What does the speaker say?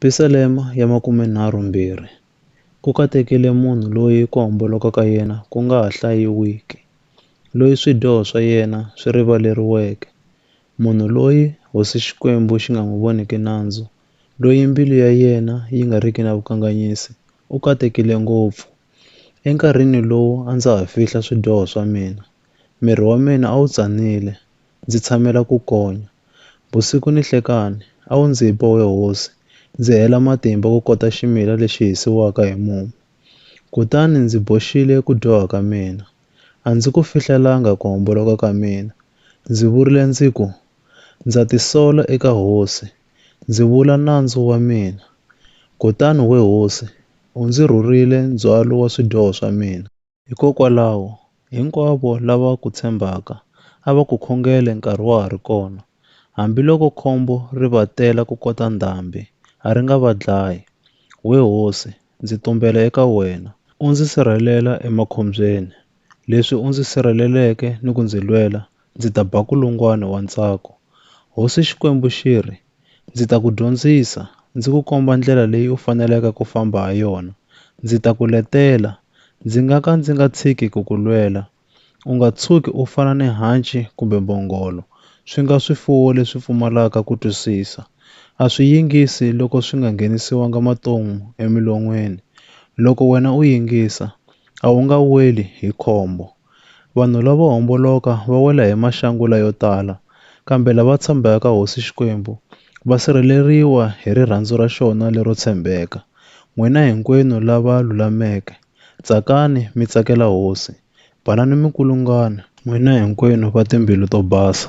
Pisalema ya makumenharhu mbirhi, Ku katekile munhu loyi ku homboloka ka yena ku nga ha hlayiwiki, loyi swidyoho swa yena swi rivaleriweke, munhu loyi Hosi Xikwembu xi nga n'wi voniki nandzu, loyi mbilu ya yena yi nga riki na vukanganyisi, u katekile ngopfu. Enkarhini lowu a ndza ha fihla swidyoho swa mina, miri wa mina a wu tsanile, ndzi tshamela ku konya. Vusiku ni nhlekani, a wu ndzi ba we hosi, ndzi hela matimba ku kota ximila lexi hisiwaka hi mumu. Kutani ndzi boxile ku dyoha ka mina. A ndzi ku fihlelanga ku homboloka ka mina. Ndzi vurile ndzi ku, Ndza tisola eka hosi, ndzi vula nandzu wa mina. Kutani we hosi, u ndzi rhurile ndzhwalo wa swidyoho swa mina. Hikokwalaho, hinkwavo lava ku tshembaka a va ku khongele nkarhi wa ha ri kona, hambiloko khombo ri va tela ku kota ndhambi, a ri nga va dlayi. We hosi, ndzi tumbela eka wena, u ndzi sirhelela emakhombyeni, leswi u ndzi sirheleleke ni ku ndzi lwela, ndzi ta ba kulungwana wa ntsako. Hosi Xikwembu xi ri, Ndzi ta ku dyondzisa, ndzi ku komba ndlela leyi u faneleke ku famba ha yona. Ndzi ta ku letela, ndzi nga ka ndzi nga tshiki ku ku lwela. U nga tshuki u fana ni hanci kumbe mbhongolo, swi nga swifuwo leswi pfumalaka ku twisisa. A swi yingisi loko swi nga nghenisiwanga maton'wu emilon'weni. Loko wena u yingisa, a wu nga weli hi khombo. Vanhu lavo homboloka va wela hi maxangula yo tala, kambe lava tshembaka ka Hosi Xikwembu va sirheleriwa hi rirhandzu ra xona lero tshembeka. N'wina hinkwenu lava lulameke, tsakani mi tsakela Hosi, banani mi kulungana. N'wina hinkwenu va timbilu to basa.